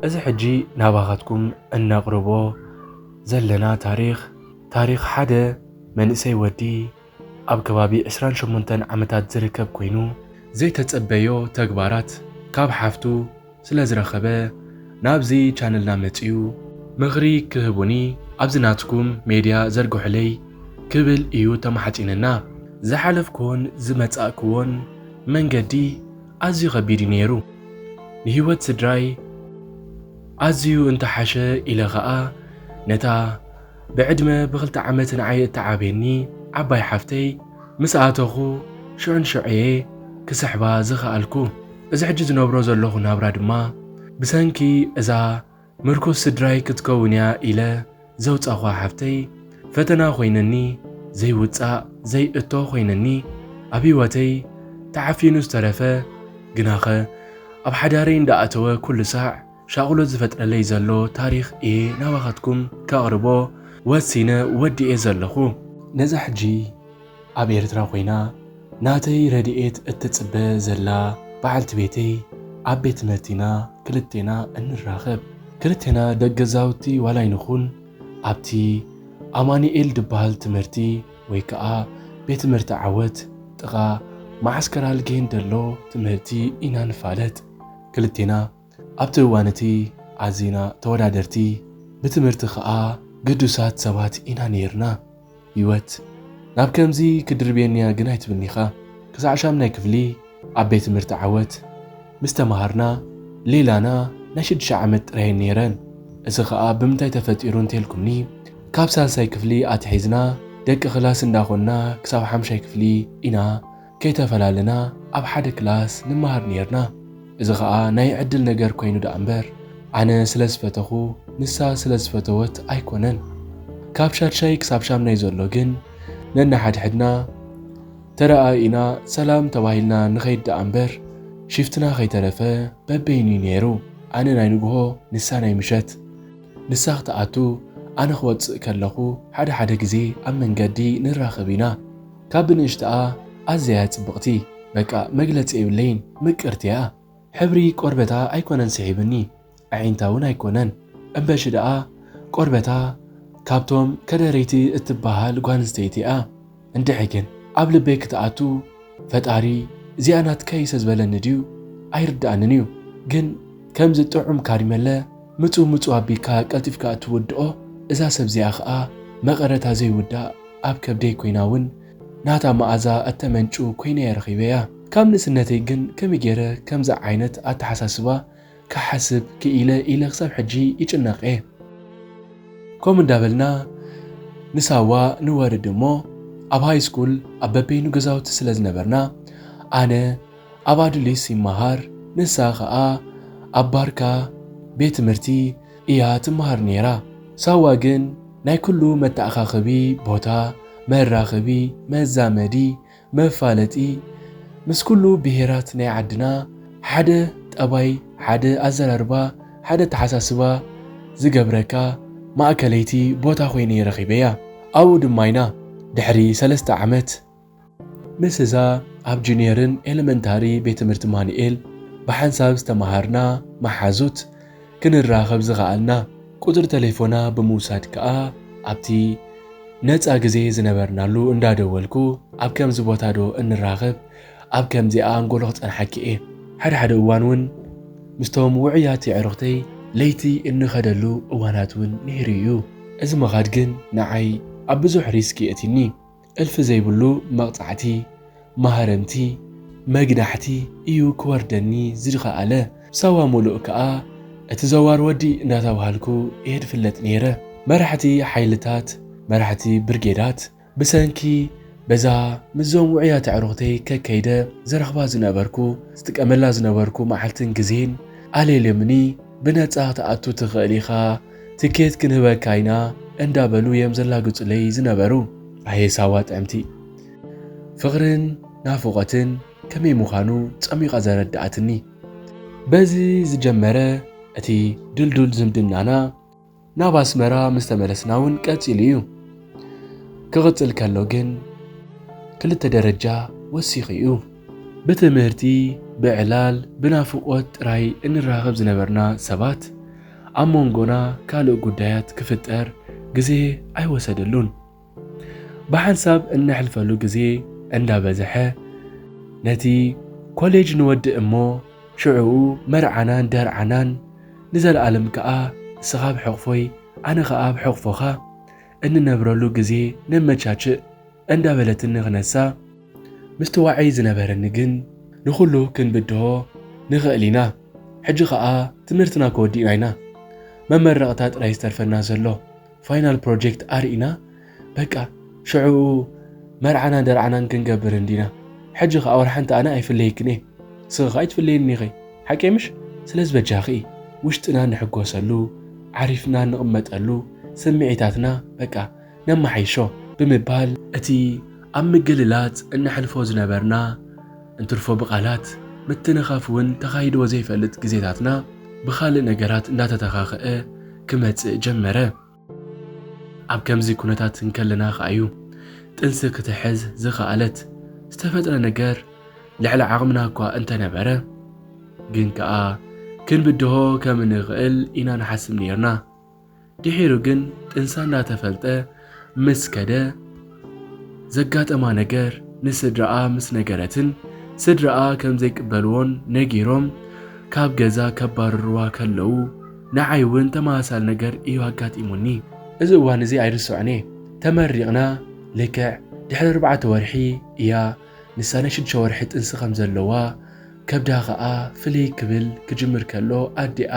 እዚ ሕጂ ናባኻትኩም እነቕርቦ ዘለና ታሪኽ ታሪኽ ሓደ መንእሰይ ወዲ ኣብ ከባቢ 28 ዓመታት ዝርከብ ኮይኑ ዘይተጸበዮ ተግባራት ካብ ሓፍቱ ስለ ዝረኸበ ናብዚ ቻነልና መጽዩ ምኽሪ ክህቡኒ ኣብዚ ናትኩም ሜድያ ዘርግሑለይ ክብል እዩ ተማሕጺንና። ዝሓለፍክዎን ዝመጻእክዎን መንገዲ ኣዝዩ ከቢድ እዩ ኔሩ ንሂወት ስድራይ ኣዝዩ እንተሓሸ ኢለ ከኣ ነታ ብዕድመ ብክልተ ዓመት ንዓይ እትዓብየኒ ዓባይ ሓፍተይ ምስ ኣተኹ ሽዑ ንሽዑ'የ ክስሕባ ዝኸኣልኩ። እዚ ሕጂ ዝነብሮ ዘለኹ ናብራ ድማ ብሰንኪ እዛ ምርኩስ ስድራይ ክትከውን'ያ ኢለ ዘውጻኹዋ ሓፍተይ ፈተና ኮይነኒ ዘይውጻእ ዘይእቶ ኮይነኒ ኣብ ህይወተይ ተዓፊኑ ዝተረፈ ግናኸ ኣብ ሓዳረይ እንዳኣተወ ኩሉ ሳዕ ሻቕሎት ዝፈጥረለይ ዘሎ ታሪኽ እየ ናባኻትኩም ከቕርቦ ወሲነ ወዲኤ ዘለኹ። ነዛ ሕጂ ኣብ ኤርትራ ኮይና ናተይ ረድኤት እትጽበ ዘላ በዓልቲ ቤተይ ኣብ ቤት ትምህርቲ ኢና ክልቴና እንራኸብ። ክልቴና ደቂ ገዛውቲ ዋላ ኣይንኹን ኣብቲ ኣማኑኤል ድበሃል ትምህርቲ ወይ ከኣ ቤት ትምህርቲ ዓወት ጥቓ መዓስከር ኣልጌን ደሎ ትምህርቲ ኢና ንፋለጥ። ክልቴና ኣብቲ እዋን እቲ ኣዚና ተወዳደርቲ ብትምህርቲ ከኣ ግዱሳት ሰባት ኢና ነይርና። ህይወት ናብ ከምዚ ክድርብየኒ'ያ ግን ኣይትምኒኻ። ክሳዕ ሻምናይ ክፍሊ ኣብ ቤት ትምህርቲ ዓወት ምስ ተመሃርና ሌላና ናይ ሽዱሽተ ዓመት ጥራየን ነይረን። እዚ ከኣ ብምንታይ ተፈጢሩ እንተልኩምኒ ካብ ሳልሳይ ክፍሊ ኣትሒዝና ደቂ ክላስ እንዳ ኮንና ክሳብ ሓምሻይ ክፍሊ ኢና ከይተፈላለና ኣብ ሓደ ክላስ ንመሃር ኔርና። እዚ ከኣ ናይ ዕድል ነገር ኮይኑ ደኣምበር ኣነ ስለ ዝፈተኹ ንሳ ስለ ዝፈተወት ኣይኮነን። ካብ ሻድሻይ ክሳብ ሻምናይ ዘሎ ግን ነንሓድሕድና ተረኣኢና ሰላም ተባሂልና ንኸይድ ደኣምበር ሽፍትና ከይተረፈ በበይኑ'ዩ ኔሩ። ኣነ ናይ ንግሆ ንሳ ናይ ምሸት። ንሳ ክትኣቱ ኣነ ክወጽእ ከለኹ ሓደ ሓደ ግዜ ኣብ መንገዲ ንራኸብ ኢና። ካብ ብንእሽትኣ ኣዝያ እያ ጽብቕቲ በቃ መግለጺ የብለይን ምቅርቲ እያ ሕብሪ ቆርበታ ኣይኮነን ስሒብኒ ኣዒንታ ውን ኣይኮነን እምበሺ ደኣ ቆርበታ ካብቶም ከደረይቲ እትበሃል ጓልንስተይቲ እያ እንድዒ ግን ኣብ ልበይ ክትኣቱ ፈጣሪ እዚኣ ናትካ እዩ ሰዝበለኒ ድዩ ኣይርድኣንን እዩ ግን ከምዚ ጥዑም ካሪመለ ምጹ ምጹ ኣቢካ ቀልጢፍካ እትውድኦ እዛ ሰብ እዚኣ ከኣ መቐረታ ዘይውዳእ ኣብ ከብደይ ኮይና ውን ናታ መኣዛ እተመንጩ ኮይነ'የ ረኺበያ። ካብ ንእስነተይ ግን ከመይ ገይረ ከምዚ ዓይነት ኣተሓሳስባ ክሓስብ ክኢለ ኢለ ክሳብ ሕጂ ይጭነቕ'የ። ከምኡ እንዳበልና ንሳዋ ንወርድ እሞ ኣብ ሃይስኩል ኣብ በበይኑ ገዛውቲ ስለ ዝነበርና ኣነ ኣብ ኣዱሊስ ይመሃር ንሳ ከኣ ኣብ ባርካ ቤት ትምህርቲ እያ ትመሃር ነይራ። ሳዋ ግን ናይ ኩሉ መተኣኻኸቢ ቦታ፣ መራኸቢ፣ መዛመዲ፣ መፋለጢ ምስ ኩሉ ብሄራት ናይ ዓድና ሓደ ጠባይ፣ ሓደ ኣዘራርባ፣ ሓደ ኣተሓሳስባ ዝገብረካ ማእከለይቲ ቦታ ኮይነ ረኺበያ። ኣብኡ ድማ ኢና ድሕሪ ሰለስተ ዓመት ምስዛ ኣብ ጁንየርን ኤለመንታሪ ቤት ትምህርቲ ማኑኤል ብሓንሳብ ዝተመሃርና መሓዙት ክንራኸብ ዝኸኣልና፣ ቁጽሪ ተሌፎና ብምውሳድ ከኣ ኣብቲ ነጻ ግዜ ዝነበርናሉ እንዳ ደወልኩ ኣብ ከምዚ ቦታ ዶ እንራኸብ ኣብ ከምዚኣ ኣንጎሎ ክጸንሓኪ እየ። ሓድሓደ እዋን ውን ምስቶም ውዑያት የዕሩኽተይ ለይቲ እንኸደሉ እዋናት ውን ነይሩ እዩ። እዚ ምኻድ ግን ንዓይ ኣብ ብዙሕ ሪስክ የእቲኒ። እልፊ ዘይብሉ መቕጻዕቲ፣ ማህረምቲ፣ መግናሕቲ እዩ ክወርደኒ ዝኸኣለ። ሳዋ ሙሉእ ከኣ እቲ ዘዋር ወዲ እንዳተባሃልኩ እየ ድፍለጥ ነይረ። መራሕቲ ሓይልታት፣ መራሕቲ ብርጌዳት፣ ብሰንኪ በዛ ምስዞም ውዑያት ኣዕሩኽተይ ከከይደ ዝረኽባ ዝነበርኩ፣ ዝጥቀመላ ዝነበርኩ መዓልትን ግዜን፣ ኣልዮልዮምኒ፣ ብነጻ ክትኣቱ ትኽእል ኢኻ፣ ትኬት ክንህበካ ኢና እንዳበሉ እዮም ዘላግጹለይ ዝነበሩ። ኣየ ሳዋ ጥዕምቲ! ፍቕርን ናፍቖትን ከመይ ምዃኑ ጸሚቓ ዘረድኣትኒ። በዚ ዝጀመረ እቲ ድልዱል ዝምድናና ናብ ኣስመራ ምስ ተመለስና እውን ቀጺሉ እዩ። ክቕጽል ከሎ ግን ክልተ ደረጃ ወሲኹ እዩ። ብትምህርቲ፣ ብዕላል፣ ብናፍቖት ጥራይ እንራኸብ ዝነበርና ሰባት፣ ኣብ መንጎና ካልእ ጉዳያት ክፍጠር ግዜ ኣይወሰደሉን። ብሓንሳብ እነሕልፈሉ ግዜ እንዳበዘሐ ነቲ ኮሌጅ ንወድእ እሞ ሽዑኡ መርዓናን ደርዓናን ንዘልኣለም ከኣ ንስኻ ኣብ ሕቕፎይ ኣነ ከኣ ኣብ ሕቕፎኻ እንነብረሉ ግዜ ነመቻችእ እንዳበለትኒ ክነሳ ምስቲ ዋዒ ዝነበረኒ ግን ንኹሉ ክንብድሆ ንኽእል ኢና። ሕጂ ኸኣ ትምህርትና ከወዲእና ኢና። መመረቕታ ጥራይ ዝተርፈና ዘሎ። ፋይናል ፕሮጀክት ኣርኢና በቃ ሽዕኡ መርዓናን ደርዓናን ክንገብር እንዲና። ሕጂ ኸኣ ወርሓንቲ ኣነ ኣይፍለየክን እየ። ንስኺ ኸኣ ኣይትፍለየኒ ኢኺ። ሓቀይ ምሽ? ስለዚ በጃኺ ውሽጥና ንሕጎሰሉ፣ ዓሪፍና ንቕመጠሉ፣ ስምዒታትና በቃ ነማሓይሾ ብምባል እቲ ኣብ ምግልላጽ እነሕልፎ ዝነበርና እንትርፎ ብቓላት ምትንኻፍ ውን ተኻይድዎ ዘይፈልጥ ግዜታትና ብኻልእ ነገራት እንዳተተኻኸኣ ክመጽእ ጀመረ። ኣብ ከምዚ ኩነታት እንከለና ከኣ ዩ ጥንሲ ክትሕዝ ዝኸኣለት። ዝተፈጥረ ነገር ልዕሊ ዓቕምና እኳ እንተነበረ ግን ከኣ ክንብድሆ ከም እንኽእል ኢና ንሓስብ ኔርና። ድሒሩ ግን ጥንሳ እንዳተፈልጠ ምስ ከደ ዘጋጠማ ነገር ንስድራኣ ምስ ነገረትን ስድራኣ ከምዘይቅበልዎን ነጊሮም ካብ ገዛ ከባርርዋ ከለዉ ንዓይ እውን ተመሳሳሊ ነገር እዩ ኣጋጢሙኒ። እዚ እዋን እዚ ኣይርስዖን እየ። ተመሪቕና ልክዕ ድሕሪ ኣርባዕተ ወርሒ እያ ንሳ ናይ ሽዱሽተ ወርሒ ጥንሲ ከም ዘለዋ፣ ከብዳ ከኣ ፍልይ ክብል ክጅምር ከሎ ኣዲኣ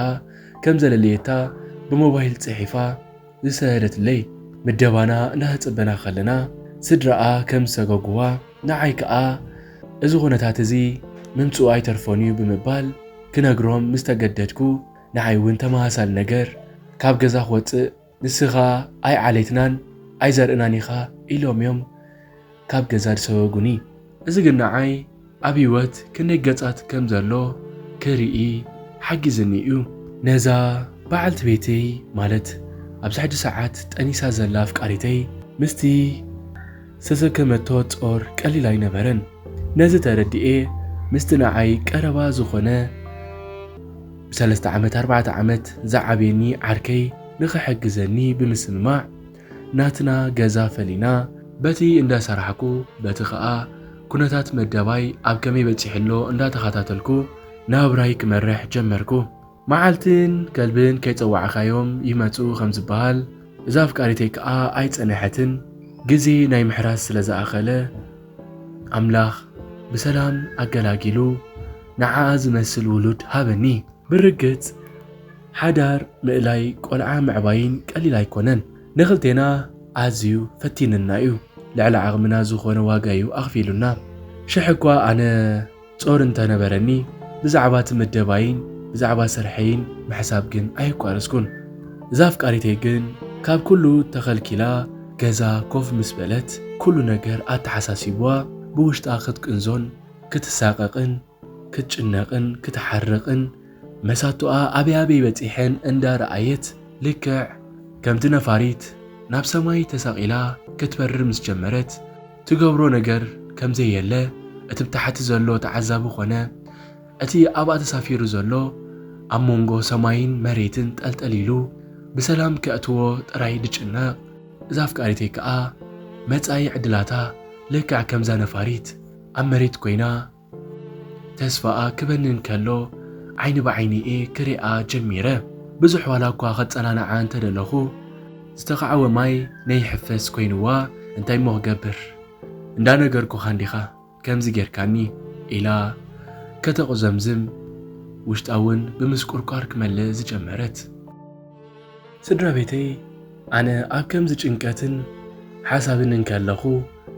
ከም ዘለለየታ ብሞባይል ጽሒፋ ዝሰደደትለይ። ምደባና እናተጸበና ከለና ስድራኣ ከም ዝሰገጉዋ፣ ንዓይ ከኣ እዚ ኩነታት እዚ ምምጽኡ ኣይተርፎን'ዩ ብምባል ክነግሮም ምስ ተገደድኩ፣ ንዓይ'ውን ተመሳሳሊ ነገር ካብ ገዛ ክወጽእ፣ ንስኻ ኣይ ዓሌትናን ኣይ ዘርእናን ኢኻ ኢሎም እዮም ካብ ገዛ ዝሰጎጉኒ። እዚ ግን ንዓይ ኣብ ህይወት ክንደይ ገጻት ከም ዘሎ ክርኢ ሓጊዝኒ እዩ። ነዛ በዓልቲ ቤተይ ማለት ኣብዚ ሕጂ ሰዓት ጠኒሳ ዘላ ኣፍቃሪተይ ምስቲ። ዝተሰከመቶ ጾር ቀሊል ኣይነበረን። ነዚ ተረዲኤ ምስቲ ንዓይ ቀረባ ዝኾነ ብሰለስተ ዓመት ኣርባዕተ ዓመት ዝዓብየኒ ዓርከይ ንኽሕግዘኒ ብምስምማዕ ናትና ገዛ ፈሊና በቲ እንዳሰራሕኩ በቲ ከኣ ኩነታት መደባይ ኣብ ከመይ በጺሑ ኣሎ እንዳተኸታተልኩ ናብራይ ክመርሕ ጀመርኩ። መዓልትን ከልብን ከይጸዋዕካዮም ይመጹ ከም ዝበሃል፣ እዛ ኣፍቃሪተይ ከኣ ኣይጸነሐትን፣ ግዜ ናይ ምሕራስ ስለ ዝኣኸለ ኣምላኽ ብሰላም ኣገላጊሉ ንዓኣ ዝመስል ውሉድ ሃበኒ። ብርግጽ ሓዳር ምእላይ ቆልዓ ምዕባይን ቀሊል ኣይኮነን። ንኽልቴና ኣዝዩ ፈቲንና'ዩ፣ ልዕሊ ዓቕምና ዝኾነ ዋጋ'ዩ ኣኽፊሉና። ሽሕ'ኳ ኣነ ጾር እንተ ነበረኒ ብዛዕባ እቲ ምደባይን ብዛዕባ ስርሐይን ምሕሳብ ግን ኣየቋረጽኩን። እዛ ኣፍቃሪተይ ግን ካብ ኩሉ ተኸልኪላ ገዛ ኮፍ ምስ በለት ኩሉ ነገር ኣተሓሳሲቡዋ ብውሽጣ ክትቅንዞን ክትሳቐቕን ክትጭነቕን ክትሓርቕን መሳቱኣ ኣበይ ኣበይ በጺሐን እንዳ ረኣየት ልክዕ ከምቲ ነፋሪት ናብ ሰማይ ተሰቒላ ክትበርር ምስ ጀመረት ትገብሮ ነገር ከምዘየለ እቲ ብታሕቲ ዘሎ ተዓዛቢ ኮነ እቲ ኣብኣ ተሳፊሩ ዘሎ ኣብ መንጎ ሰማይን መሬትን ጠልጠል ኢሉ ብሰላም ከእትዎ ጥራይ ድጭነቕ። እዛ ኣፍቃሪተይ ከኣ መጻኢ ዕድላታ ልክዕ ከምዛ ነፋሪት ኣብ መሬት ኮይና ተስፋኣ ክበንን ከሎ ዓይኒ ብዓይኒ'የ ክሪኣ ጀሚረ። ብዙሕ ዋላ እኳ ከጸናንዓ እንተ ደለኹ ዝተኻዕወ ማይ ነይሕፈስ ኮይንዋ እንታይ'ሞ ክገብር እንዳ ነገርኩኻ እንዲኻ ከምዚ ጌርካኒ ኢላ ከተቑዘምዝም ውሽጣ'ውን ብምስቁርቋር ክመልእ ዝጀመረት። ስድራቤተይ ኣነ ኣብ ከምዚ ጭንቀትን ሓሳብን እንከለኹ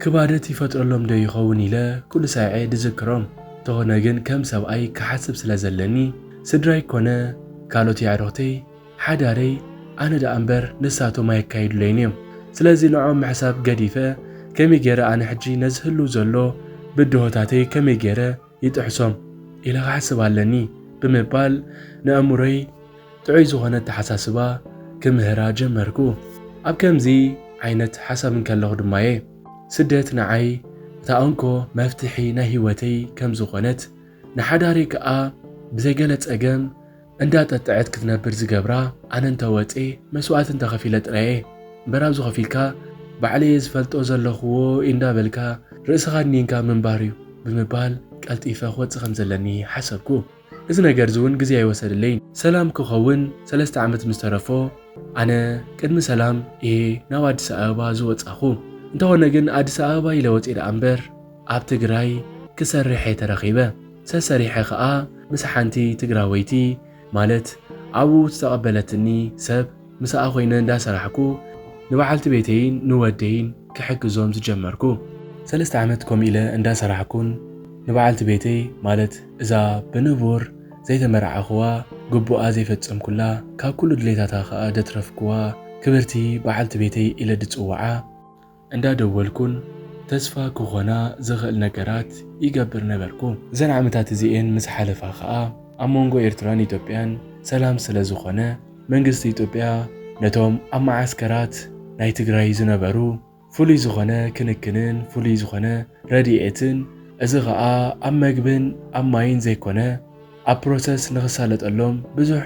ክባደት ይፈጥረሎም ዶ ይኸውን ኢለ ኩሉ ሳዔ ድዝክሮም። እንተኾነ ግን ከም ሰብኣይ ክሓስብ ስለ ዘለኒ ስድራይ ኮነ ካልኦት የዕሩኽተይ፣ ሓዳረይ፣ ኣነ ደኣ እምበር ንሳቶም ኣየካይዱለይን እዮም። ስለዚ ንዕኦም ምሕሳብ ገዲፈ ከመይ ገይረ ኣነ ሕጂ ነዚ ህሉው ዘሎ ብድሆታተይ ከመይ ገይረ ይጥሕሶም ኢለ ክሓስብ ኣለኒ ብምባል ንኣእምሮይ ጥዑይ ዝኾነ ኣተሓሳስባ ክምህራ ጀመርኩ። ኣብ ከምዚ ዓይነት ሓሳብ እንከለኹ ድማ'የ ስደት ንዓይ እታ እንኮ መፍትሒ ናይ ህይወተይ ከም ዝኾነት ንሓዳረይ ከኣ ብዘይ ገለ ጸገም እንዳጠጠዐት ክትነብር ዝገብራ ኣነ እንተ ወጼ መስዋእቲ እንተ ከፊለ ጥራየ እምበር ኣብዚ ኮፍ ኢልካ ባዕለየ ዝፈልጦ ዘለኹዎ ኢንዳበልካ ርእስኻ ኣድኒንካ ምንባር እዩ ብምባል ቀልጢፈ ክወጽእ ከም ዘለኒ ሓሰብኩ እዚ ነገርዚ ውን ግዜ ኣይወሰደለይን ሰላም ክኸውን ሰለስተ ዓመት ምስ ተረፎ ኣነ ቅድሚ ሰላም እየ ናብ ኣዲስ ኣበባ ዝወጻኹ እንተኾነ ግን ኣዲስ ኣበባ ኢለ ወጼ ደኣ እምበር ኣብ ትግራይ ክሰርሕ እየ ተረኺበ ሰሰሪሐ ከኣ ምስ ሓንቲ ትግራወይቲ ማለት ኣብኡ ዝተቀበለትኒ ሰብ ምሳኣ ኮይነ እንዳ ሰራሕኩ ንበዓልቲ ቤተይን ንወደይን ክሕግዞም ዝጀመርኩ። ሰለስተ ዓመት ከምኡ ኢለ እንዳ ሰራሕኩን ንበዓልቲ ቤተይ ማለት እዛ ብንቡር ዘይተመርዓኹዋ ግቡኣ ዘይፈጸምኩላ ካብ ኩሉ ድሌታታ ከኣ ደትረፍኩዋ ክብርቲ በዓልቲ ቤተይ ኢለ ድጽውዓ። እንዳደወልኩን ተስፋ ክኾና ዝኽእል ነገራት ይገብር ነበርኩ። እዘን ዓመታት እዚኤን ምስ ሓለፋ ከኣ ኣብ መንጎ ኤርትራን ኢትዮጵያን ሰላም ስለ ዝኾነ መንግስቲ ኢትዮጵያ ነቶም ኣብ መዓስከራት ናይ ትግራይ ዝነበሩ ፍሉይ ዝኾነ ክንክንን ፍሉይ ዝኾነ ረዲኤትን እዚ ከኣ ኣብ መግብን ኣብ ማይን ዘይኮነ ኣብ ፕሮሰስ ንክሳለጠሎም ብዙሕ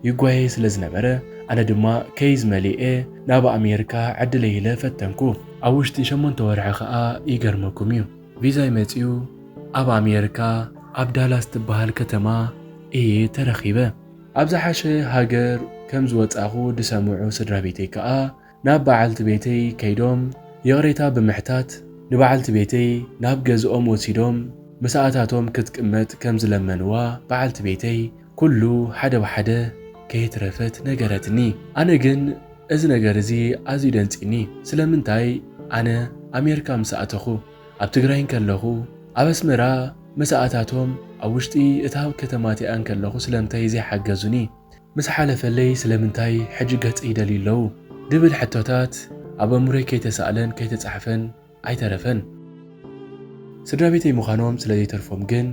ይጓየ ስለ ዝነበረ ኣነ ድማ ከይዝ መሊኤ ናብ ኣሜርካ ዕድለይ ኢለ ፈተንኩ ኣብ ውሽጢ ሸሞንተ ወርሒ ከኣ ይገርመኩም እዩ ቪዛይ መጺኡ ኣብ ኣሜርካ ኣብ ዳላስ ትበሃል ከተማ እየ ተረኪበ ኣብ ዝሓሸ ሃገር ከም ዝወጻኩ ድሰምዑ ስድራቤተይ ከኣ ናብ በዓልቲ ቤተይ ከይዶም ይቕሬታ ብምሕታት ንበዓልቲ ቤተይ ናብ ገዝኦም ወሲዶም ምስኣታቶም ክትቅመጥ ከም ዝለመንዋ በዓልቲ ቤተይ ኩሉ ሓደ ብሓደ ከይትረፈት ነገረትኒ። ኣነ ግን እዚ ነገር እዚ ኣዝዩ ደንጺኒ ስለምንታይ ኣነ ኣሜርካ ምስ ኣተኹ ኣብ ትግራይ እንከለኹ ኣብ ኣስመራ ምስኣታቶም ኣብ ውሽጢ እታ ከተማቲኣ እንከለኹ ስለምታይ ዘይሓገዙኒ? ምስ ሓለፈለይ ስለምንታይ ሕጂ ገጽ ይደልዩ ኣለዉ ድብል ሕቶታት ኣብ ኣእምሮይ ከይተሳእለን ከይተጻሕፈን ኣይተረፈን። ስድራቤተይ ምዃኖም ስለዘይተርፎም ግን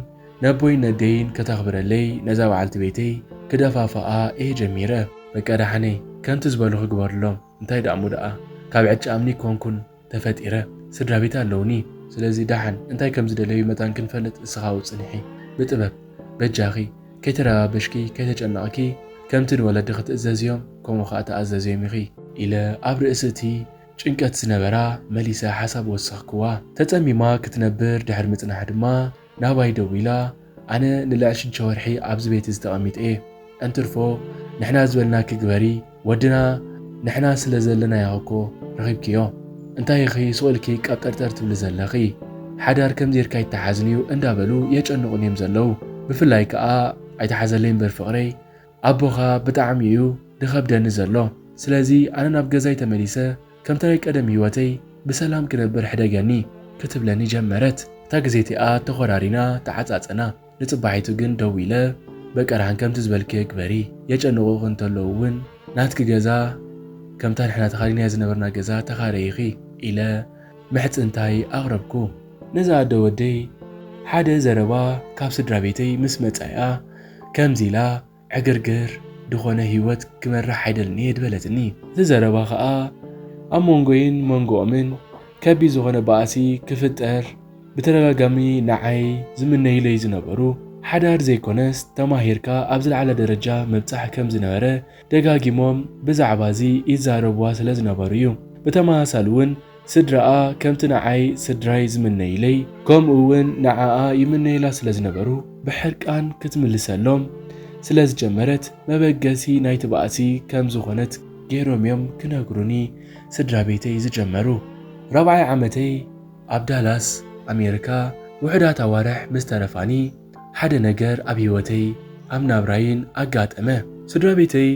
ነቦይን ነደይን ከተኽብረለይ ነዛ በዓልቲ ቤተይ ክደፋፍኣ እየ ጀሚረ። በቃ ደሓነይ ከምቲ ዝበሉኺ ግበርሎም እንታይ ደኣሞ ደኣ ካብ ዕጫ እምኒ ኣይኮንኩን። ተፈጢረ ስድራቤት ኣለውኒ ስለዚ ዳሓን እንታይ ከም ዝደለዩ መታን ክንፈልጥ እስኻ ውን ጽንሒ ብጥበብ በጃኺ ከይተረባበሽኪ ከይተጨነቕኪ ከምቲ ንወለድኺ ትእዘዝዮም ከምኡ ኸኣ ተኣዘዝዮም ኢኺ ኢለ ኣብ ርእሲ እቲ ጭንቀት ዝነበራ መሊሰ ሓሳብ ወሰኽክዋ ተጸሚማ ክትነብር ድሕሪ ምጽናሕ ድማ። ናባይ ደዊላ ኣነ ንልዕል ሽዱሽተ ወርሒ ኣብዚ ቤት እዚ ተቐሚጠ'የ እንትርፎ ንሕና ዝበልናኪ ግበሪ ወድና ንሕና ስለ ዘለናዮ እኮ ረኺብክዮ እንታይ ኢኺ ሱቕ ኢልኪ ቀብጠርጠር ትብሊ ዘለኺ ሓዳር ከምዚ ጌርካ ኣይተሓዝን'ዩ እንዳበሉ የጨንቑኒ'ዮም ዘለዉ ብፍላይ ከኣ ኣይትሓዘለይ እምበር ፍቕረይ ኣቦኻ ብጣዕሚ እዩ ድኸብደኒ ዘሎ ስለዚ ኣነ ናብ ገዛይ ተመሊሰ ከምቲ ናይ ቀደም ሂወተይ ብሰላም ክነብር ሕደገኒ ክትብለኒ ጀመረት። እታ ግዜ እቲኣ ተኾራሪና ተዓጻጸና ንጽባሒቱ ግን ደዊለ በቀርሃን ከምቲ ዝበልክዮ ግበሪ የጨንቑኺ እንተለዉ ውን ናትኪ ገዛ ከምታ ንሕና ተኻሪናያ ዝነበርና ገዛ ተኻረይኺ ኢለ ምሕጽንታይ ኣቕረብኩ። ነዛ ኣደ ወደይ ሓደ ዘረባ ካብ ስድራቤተይ ምስ መጻያ ከምዚ ኢላ ዕግርግር ድኾነ ህይወት ክመርሕ ኣይደልን እየ ድበለትኒ። እቲ ዘረባ ከኣ ኣብ መንጎይን መንጎኦምን ከቢድ ዝኾነ ባእሲ ክፍጠር ብተደጋጋሚ ንዓይ ዝምነዩለይ ዝነበሩ ሓዳር ዘይኮነስ ተማሂርካ ኣብ ዝለዓለ ደረጃ ምብጻሕ ከምዝነበረ ደጋጊሞም ብዛዕባ እዚ ይዛረቡዋ ስለ ዝነበሩ እዩ። ብተመሳሳሊ እውን ስድራኣ ከምቲ ንዓይ ስድራይ ዝምነዩለይ ከምኡ እውን ንዓኣ ይምነዩላ ስለ ዝነበሩ ብሕርቃን ክትምልሰሎም ስለ ዝጀመረት መበገሲ ናይቲ ባእሲ ከም ዝኾነት ገይሮም እዮም ክነግሩኒ ስድራ ቤተይ ዝጀመሩ። ራብዓይ ዓመተይ ኣብ ዳላስ ኣሜሪካ ውሑዳት ኣዋርሕ ምስ ተረፋኒ፣ ሓደ ነገር ኣብ ህይወተይ ኣብ ናብራይን ኣጋጠመ። ስድራቤተይ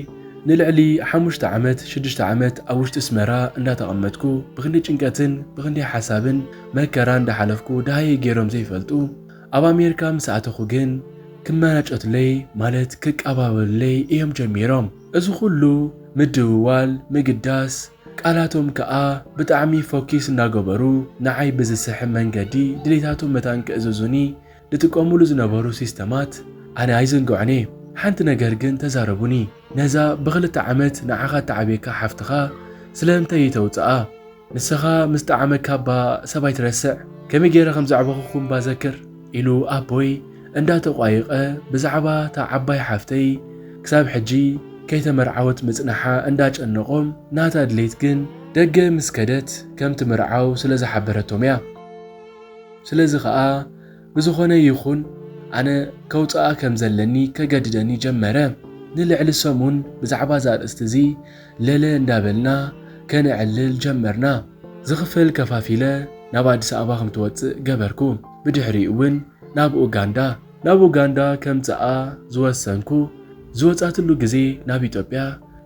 ንልዕሊ ሓሙሽተ ዓመት ሽዱሽተ ዓመት ኣብ ውሽጢ ኣስመራ እንዳተቐመጥኩ ብኽንደይ ጭንቀትን ብኽንደይ ሓሳብን መከራን እንዳሓለፍኩ ደሃየይ ጌሮም ዘይፈልጡ ኣብ ኣሜርካ ምስ ኣተኹ ግን ክመናጨቱለይ ማለት ክቃባበሉለይ እዮም ጀሚሮም እዚ ኹሉ ምድውዋል ምግዳስ ቃላቶም ከኣ ብጣዕሚ ፎኪስ እንዳገበሩ ንዓይ ብዝስሕብ መንገዲ ድሌታቶም መታን ክእዝዙኒ ዝጥቀሙሉ ዝነበሩ ሲስተማት ኣነ ኣይዝንግዖን እየ ሓንቲ ነገር ግን ተዛረቡኒ ነዛ ብክልተ ዓመት ንዓኻ እተዓብየካ ሓፍትኻ ስለምንታይ እይተውጽኣ ንስኻ ምስ ጠዓመካ እባ ሰብ ኣይትረስዕ ከመይ ገይረ ከም ዘዕበኹኩም እባ ዘክር ኢሉ ኣቦይ እንዳ ተቋየቀ ብዛዕባ እታ ዓባይ ሓፍተይ ክሳብ ሕጂ ከይተመርዓወት ምጽናሓ እንዳ ጨነቆም ናታ ድሌት ግን ደገ ምስ ከደት ከም ትምርዓው ስለ ዝሓበረቶም እያ። ስለዚ ኸኣ ብዝኾነ ይኹን ኣነ ከውጽኣ ከም ዘለኒ ከገድደኒ ጀመረ። ንልዕሊ ሰሙን ብዛዕባ እዚ ኣርእስቲ እዚ ለለ እንዳበልና ከነዕልል ጀመርና። ዝኽፈል ከፋፊለ ናብ ኣዲስ ኣበባ ከም ትወጽእ ገበርኩ። ብድሕሪኡ'ውን ናብ ኡጋንዳ። ናብ ኡጋንዳ ከምጽኣ ዝወሰንኩ ዝወጻትሉ ግዜ ናብ ኢትዮጵያ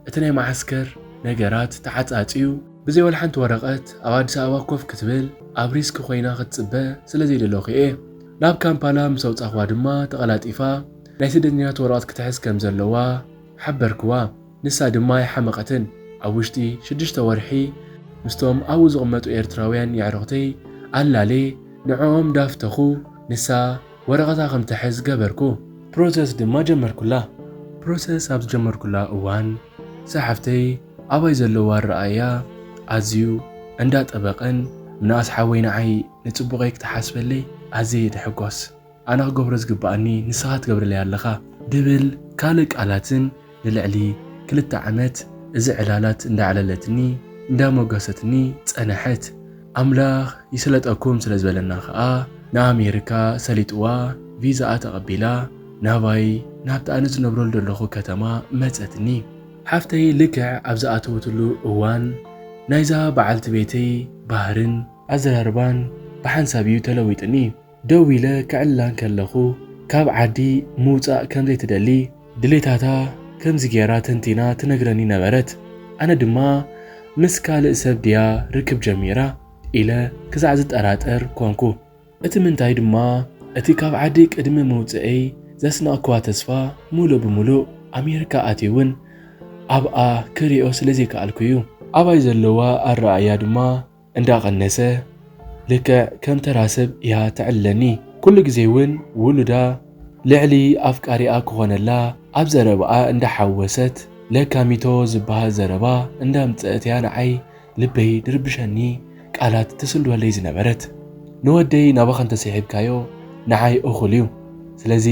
እቲ ናይ መዓስከር ነገራት ተዓጻጽዩ። ብዘይ ወልሓንቲ ወረቐት ኣብ ኣዲስ ኣበባ ኮፍ ክትብል ኣብ ሪስክ ኮይና ክትጽበ ስለ ዘይደለኹ'የ። ናብ ካምፓላ ምስ ኣውጻኹዋ ድማ ተቐላጢፋ ናይ ስደተኛታት ወረቐት ክትሕዝ ከም ዘለዋ ሓበርኩዋ። ንሳ ድማ ኣይሓመቐትን። ኣብ ውሽጢ ሽዱሽተ ወርሒ ምስቶም ኣብኡ ዝቕመጡ ኤርትራውያን የዕሩኽተይ ኣላልየ ንዕኦም ዳፍተኹ ንሳ ወረቐታ ከም ትሕዝ ገበርኩ። ፕሮሰስ ድማ ጀመርኩላ። ፕሮሰስ ኣብ ዝጀመርኩላ እዋን ዛሓፍተይ ኣባይ ዘለዎ ኣረኣእያ ኣዝዩ እንዳ ጠበቀን ምንኣስ ሓወይ ንዓይ ንጽቡቀይ ክትሓስበለይ ኣዝየ ይትሕጎስ ኣነ ክገብሮ ዝግብኣኒ ንስካ ትገብረለይ ኣለካ ድብል ካልእ ቃላትን ንልዕሊ ክልተ ዓመት እዚ ዕላላት እንዳ ኣዕለለትኒ እንዳ ሞገሰትኒ ጸነሐት ኣምላኽ ይስለጠኩም ስለ ዝበለና ከኣ ንኣሜርካ ሰሊጥዋ ቪዛኣ ተቐቢላ ናባይ ናብቲ ኣነ ዝነብረሉ ዘለኹ ከተማ መጸትኒ። ሓፍተይ ልክዕ ኣብ ዝኣተወትሉ እዋን ናይዛ በዓልቲ ቤተይ ባህርን ኣዘራርባን ብሓንሳብ እዩ ተለዊጥኒ። ደው ኢለ ክዕላ እንከለኹ ካብ ዓዲ ምውጻእ ከም ዘይትደሊ ድሌታታ ከምዚ ገይራ ተንቲና ትነግረኒ ነበረት። ኣነ ድማ ምስ ካልእ ሰብ ድያ ርክብ ጀሚራ ኢለ ክሳዕ ዝጠራጠር ኰንኩ። እቲ ምንታይ ድማ እቲ ካብ ዓዲ ቅድሚ ምውጽኤይ ዘስነቕክዋ ተስፋ ምሉእ ብምሉእ ኣሜሪካ ኣትየ'ውን ኣብኣ ክርእዮ ስለ ዘይከኣልኩ'ዩ። ኣባይ ዘለዋ ኣረኣእያ ድማ እንዳቐነሰ ልክዕ ከም ተራ ሰብ እያ ተዕልለኒ። ኩሉ ግዜ እውን ውሉዳ ልዕሊ ኣፍቃሪኣ ክኾነላ ኣብ ዘረባኣ እንዳሓወሰት ለካሚቶ ዝበሃል ዘረባ እንዳምፀእት እያ ንዓይ ልበይ ድርብሸኒ ቃላት ትስልወለይ ዝነበረት። ንወደይ ናባኻ እንተሲሒብካዮ ንዓይ እኹል እዩ። ስለዚ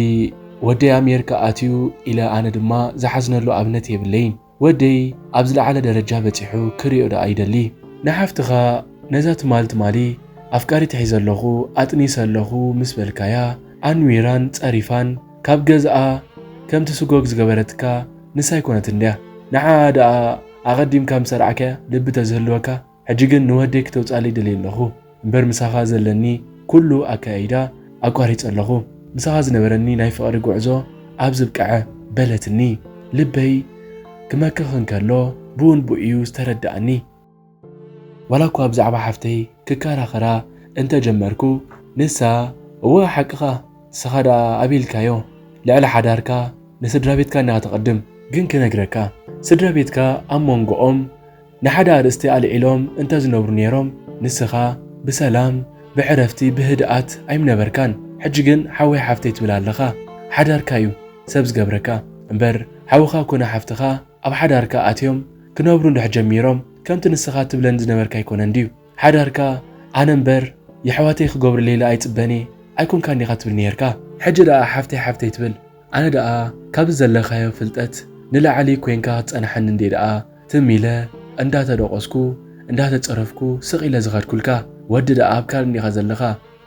ወደይ ኣሜርካ ኣትዩ ኢለ ኣነ ድማ ዝሓዝነሉ ኣብነት የብለይን። ወደይ ኣብ ዝለዓለ ደረጃ በጺሑ ክሪኦ ደኣ ይደሊ። ንሓፍትኻ ነዛ ትማል ትማሊ ኣፍቃሪት ሒዘ ኣለኹ ኣጥኒሰ ኣለኹ ምስ በልካያ ኣንዊራን ጸሪፋን ካብ ገዝኣ ከም ትስጎግ ዝገበረትካ ንሳ ኣይኮነትን ድያ? ንዓኣ ደኣ ኣቐዲምካ ምስ ኣርዓካያ ልቢ ተዝህልወካ ሕጂ ግን ንወደይ ክተውጻለይ ደልየ ኣለኹ እምበር ምሳኻ ዘለኒ ኩሉ ኣከያይዳ ኣቋሪጸ ኣለኹ ምሳኻ ዝነበረኒ ናይ ፍቕሪ ጉዕዞ ኣብ ዝብቀዐ በለትኒ ልበይ ክመክኽ እንከሎ ብውንቡእ'ዩ ዝተረደኣኒ። ዋላ እኳ ብዛዕባ ሓፍተይ ክከራኸራ እንተ ጀመርኩ ንሳ እወ ሓቅኻ ንስኻ ደኣ ኣቢልካዮ ልዕሊ ሓዳርካ ንስድራቤትካ እንዲኻ ተቐድም ግን ክነግረካ ስድራቤትካ ኣብ ሞንጎኦም ንሓደ ኣርእስቲ ኣልዒሎም እንተ ዝነብሩ ነይሮም ንስኻ ብሰላም ብዕረፍቲ ብህድኣት ኣይምነበርካን ሕጂ ግን ሓወይ ሓፍተይ ትብል ኣለኻ ሓዳርካ ዩ ሰብ ዝገብረካ እምበር ሓውኻ ኮነ ሓፍትኻ ኣብ ሓዳርካ ኣትዮም ክነብሩ እንድሕር ጀሚሮም ከምቲ ንስኻ ትብለን ዝነበርካ ኣይኮነን ድዩ ሓዳርካ ኣነ እምበር የሕዋተይ ክገብሩለይ ለኣይጽበንየ ኣይኮንካን ዲኻ ትብል ነይርካ ሕጂ ደኣ ሓፍተይ ሓፍተይ ትብል። ኣነ ደኣ ካብዚ ዘለካዮ ፍልጠት ንላዕሊ ኮይንካ ክትጸንሓኒ እንድየ ደኣ ትም ኢለ እንዳ ተደቆስኩ እንዳ ተጸረፍኩ ስቅ ኢለ ዝከድኩልካ ወዲ ደኣ ኣብ ካልእ እንዲካ ዘለካ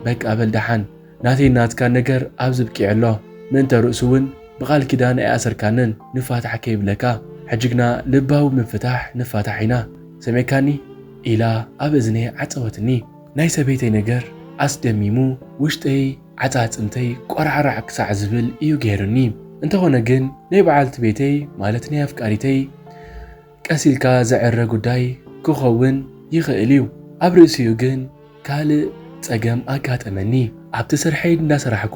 በቃ በል ደሓን ናተይን ናትካን ነገር ኣብዚ ኣብቂዑ ኣሎ ምእንተ ርእሱ ውን ብቃል ኪዳን ኣይኣሰርካንን ንፋታሕ ከይብለካ ሕጂ ግና ልባዊ ምፍታሕ ንፋታሕ ኢና ሰሚዕካኒ ኢላ ኣብ እዝነይ ዓጸወትኒ ናይ ሰበይተይ ነገር ኣስደሚሙ ውሽጠይ ዓጻጽምተይ ቆራዕራዕ ክሳዕ ዝብል እዩ ገይሩኒ። እንተኾነ ግን ናይ በዓልቲ ቤተይ ማለት ናይ ኣፍቃሪተይ ቀስ ኢልካ ዝዕረ ጉዳይ ክኸውን ይኽእል እዩ። ኣብ ርእሲኡ ግን ካልእ ጸገም ኣጋጠመኒ። ኣብቲ ስርሐይ እንዳሰራሕኩ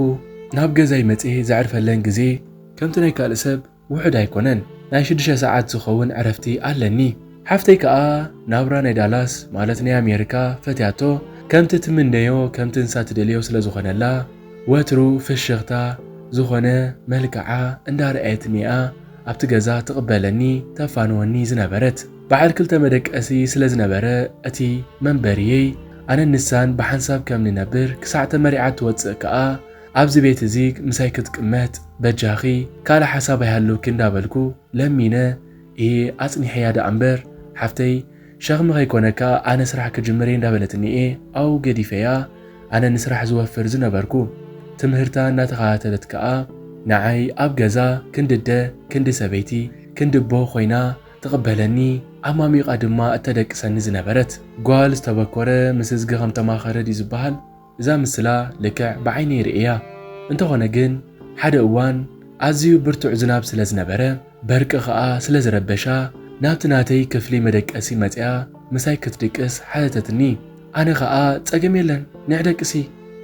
ናብ ገዛይ መጼ ዘዕርፈለን ግዜ ከምቲ ናይ ካልእ ሰብ ውሑድ ኣይኮነን ናይ ሽዱሽተ ሰዓት ዝኸውን ዕረፍቲ ኣለኒ ሓፍተይ ከኣ ናብራ ናይ ዳላስ ማለት ናይ ኣሜሪካ ፈትያቶ ከምቲ ትምነዮ ከምቲ ንሳ ትደልዮ ስለ ዝኾነላ ወትሩ ፍሽኽታ ዝኾነ መልክዓ እንዳ ርኣየትኒ'ያ ኣብቲ ገዛ ትቕበለኒ ተፋንወኒ ዝነበረት በዓል ክልተ መደቀሲ ስለ ዝነበረ እቲ መንበሪየይ ኣነን ንሳን ብሓንሳብ ከም ንነብር ክሳዕ ተመሪዓ እትወጽእ ከኣ ኣብዚ ቤት እዚ ምሳይ ክትቅመጥ በጃኺ ካልእ ሓሳብ ኣይሃልውኪ እንዳበልኩ ለሚነ እየ ኣጽኒሐያ ደኣ እምበር ሓፍተይ ሸኽሚ ከይኮነካ ኣነ ስራሕ ክጅምር እየ እንዳበለትኒ እየ ኣብኡ ገዲፈያ ኣነ ንስራሕ ዝወፍር ዝነበርኩ ትምህርታ እናተኸታተለት ከኣ ንዓይ ኣብ ገዛ ክንዲ ኣደ ክንዲ ሰበይቲ ክንዲ ኣቦ ኮይና ትቕበለኒ ኣማሚቓ ድማ እተደቅሰኒ ዝነበረት ጓል ዝተበኮረ ምስ እዝጊ ከም ተማኸረ ድዩ ዝበሃል እዛ ምስላ ልክዕ ብዓይነይ ርእየያ እንተኾነ ግን ሓደ እዋን ኣዝዩ ብርቱዕ ዝናብ ስለዝነበረ በርቂ ከኣ ስለዝረበሻ ናብቲ ናተይ ክፍሊ መደቀሲ መጺኣ ምሳይ ክትድቅስ ሓተተትኒ ኣነ ከኣ ጸገም የለን ኒዕ ደቅሲ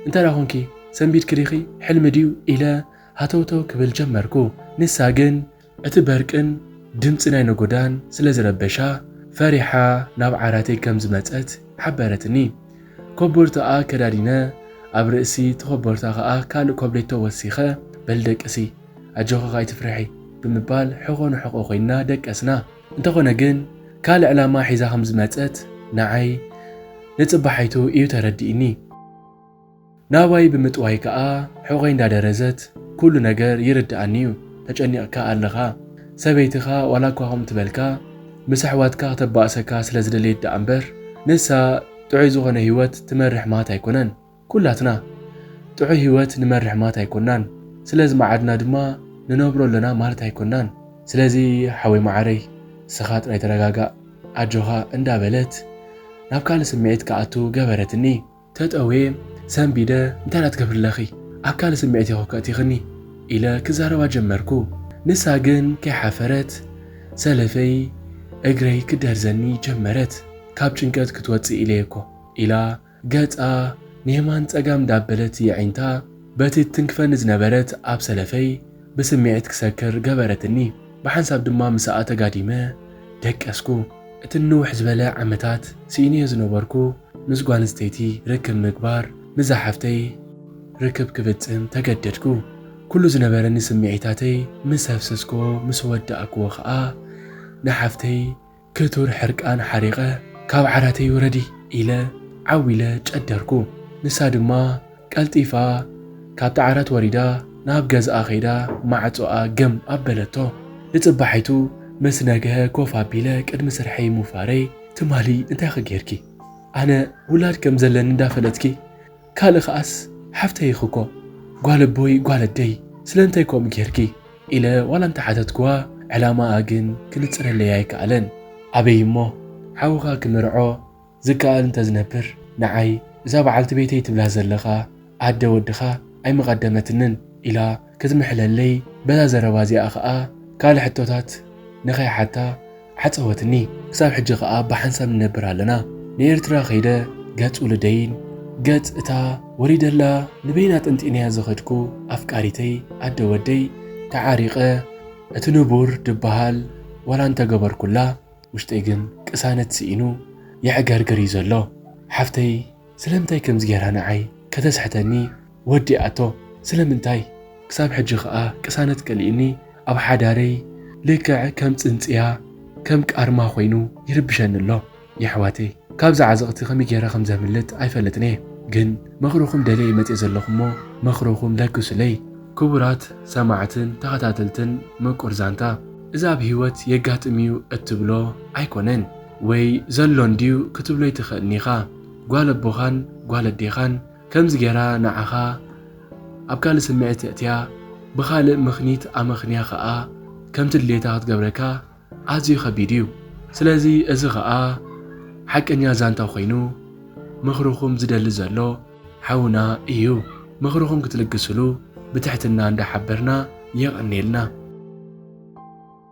እንተ ኾንኪ ሰንቢድኪ ዲኺ ሕልሚ ድዩ ኢለ ሃተውተው ክብል ጀመርኩ ንሳ ግን እቲ በርቅን ድምጺ ናይ ነጎዳን ስለ ዝረበሻ፣ ፈሪሓ ናብ ዓራተይ ከም ዝመጸት ሓበረትኒ። ኮቦርታኣ ከዳዲነ፣ ኣብ ርእሲ እቲ ኮቦርታ ከኣ ካልእ ኮብሌቶ ወሲኸ፣ በሊ ደቅሲ፣ ኣጆኺ ካይትፍርሒ፣ ብምባል ሕቖ ንሕቖ ኮይንና ደቀስና። እንተኾነ ግን ካልእ ዕላማ ሒዛ ከም ዝመጸት ንዓይ ንጽባሒቱ ኢዩ ተረዲእኒ። ናባይ ብምጥዋይ ከኣ ሑቘይ እንዳደረዘት፣ ኩሉ ነገር ይርድኣኒ'ዩ፣ ተጨኒቕካ ኣለኻ፣ ሰበይትኻ ዋላ'ኳ ከምኡ ትበልካ፣ ምስ ኣሕዋትካ ክተባእሰካ ስለ ዝደለየት ደኣ'ምበር፣ ንሳ ጥዑይ ዝኾነ ህይወት ትመርሕ ማት ኣይኮነን፣ ኩላትና ጥዑይ ህይወት ንመርሕ ማት ኣይኮናን፣ ስለ ዝመዓድና ድማ ንነብሮ ኣሎና ማለት ኣይኮናን። ስለዚ ሓወይ መዓረይ ንስኻ ጥራይ ተረጋጋእ፣ ኣጆኻ እንዳበለት ናብ ካልእ ስምዒት ክኣቱ ገበረትኒ። ተጠውየ ሰንቢደ እንታይ ኢና ትገብሪ'ለኺ ኣብ ካልእ ስምዒት ኢኺ ከእቲኽኒ ኢለ ክዛረባ ጀመርኩ ንሳ ግን ከይሓፈረት ሰለፈይ እግረይ ክትደርዘኒ ጀመረት ካብ ጭንቀት ክትወጽእ ኢለየ'ኮ ኢላ ገጻ ንየማን ጸጋም እንዳበለት የዒንታ በቲ ትትንክፈኒ ዝነበረት ኣብ ሰለፈይ ብስምዒት ክሰክር ገበረትኒ ብሓንሳብ ድማ ምሳኣ ተጋዲመ ደቀስኩ እቲ ንንውሕ ዝበለ ዓመታት ስኢነዮ ዝነበርኩ ምስ ጓልንስተይቲ ርክብ ምግባር ምስ ዝሓፍተይ ርክብ ክፍጽም ተገደድኩ። ኩሉ ዝነበረኒ ስምዒታተይ ምስ ኣፍሰስክዎ ምስ ወዳእክዎ ከኣ ንሓፍተይ ክቱር ሕርቃን ሓሪቐ ካብ ዓራተይ ውረዲ ኢለ ዓው ኢለ ጨደርኩ። ንሳ ድማ። ቀልጢፋ ካብቲ ዓራት ወሪዳ ናብ ገዝኣ ከይዳ ማዕጾኣ ግም ኣበለቶ። ንጽባሒቱ ምስ ነግሀ ኮፍ ኣቢለ ቅድሚ ስርሐይ ምውፋረይ ትማሊ እንታይ'ኸ ጌርኪ? ኣነ ውላድ ከም ዘለኒ እንዳፈለጥኪ? ካልእ ከኣስ ሓፍተይ ኢኺ'ኮ ጓል ኣቦይ ጓል ኣደይ ስለምንታይ ከምኡ ጌርኪ? ኢለ ዋላ እንተሓተትክዋ ዕላማኣ ግን ክንጽረለይ ኣይከኣለን። ኣበይ'ሞ ሓውኻ ክምርዖ? ዝከኣል እንተዝነብር ንዓይ እዛ በዓልቲ ቤተይ ትብላ ዘለኻ ኣደ ወድኻ ኣይምቐደመትንን ኢላ ክትምሕለለይ በዛ ዘረባ እዚኣ ከኣ ካልእ ሕቶታት ንኸይሓታ ዓጸወትኒ። ክሳብ ሕጂ ከኣ ብሓንሳብ ንነብር ኣለና። ንኤርትራ ከይደ ገጽ ውሉደይን ገጽ እታ ወሊደላ ንበይና ጠንጢነያ ዝኸድኩ ኣፍቃሪተይ ኣደ ወደይ ተዓሪቐ እቲ ንቡር ድበሃል ዋላ እንተገበርኩላ ውሽጠይ ግን ቅሳነት ስኢኑ የዕገርግር እዩ ዘሎ ሓፍተይ ስለምንታይ ከምዚ ጌራ ንዓይ ከተስሕተኒ ወዲኣቶ ስለምንታይ? ክሳብ ሕጂ ከኣ ቅሳነት ከሊኡኒ ኣብ ሓዳረይ ልክዕ ከም ጽንጽያ ከም ቃርማ ኮይኑ ይርብሸኒ ኣሎ የሕዋተይ ካብዚ ዓዘቅቲ ከመይ ጌረ ከም ዘምልጥ ኣይፈልጥን እየ ግን ምክርኩም ደልየ እየ መጽየ ዘለኩ እሞ ምክርኩም ለግሱለይ ክቡራት ሰማዕትን ተከታተልትን ምቁር ዛንታ። እዚ ኣብ ህይወት የጋጥም እዩ እትብሎ ኣይኮነን ወይ ዘሎ እንድዩ ክትብሎ ኣይትኽእልን ኢኻ። ጓል ኣቦኻን ጓል ኣዴኻን ከምዚ ጌራ ንዓኻ ኣብ ካልእ ስምዒት እእትያ ብኻልእ ምኽኒት ኣመኽንያ ኸኣ ከምቲ ድሌታ ክትገብረካ ኣዝዩ ከቢድ እዩ። ስለዚ እዚ ኸኣ ሓቀኛ ዛንታ ኮይኑ ምኽርኹም ዝደሊ ዘሎ። ሓውና እዩ ምኽርኹም ክትልግስሉ ብትሕትና እንዳሓበርና የቐንየልና።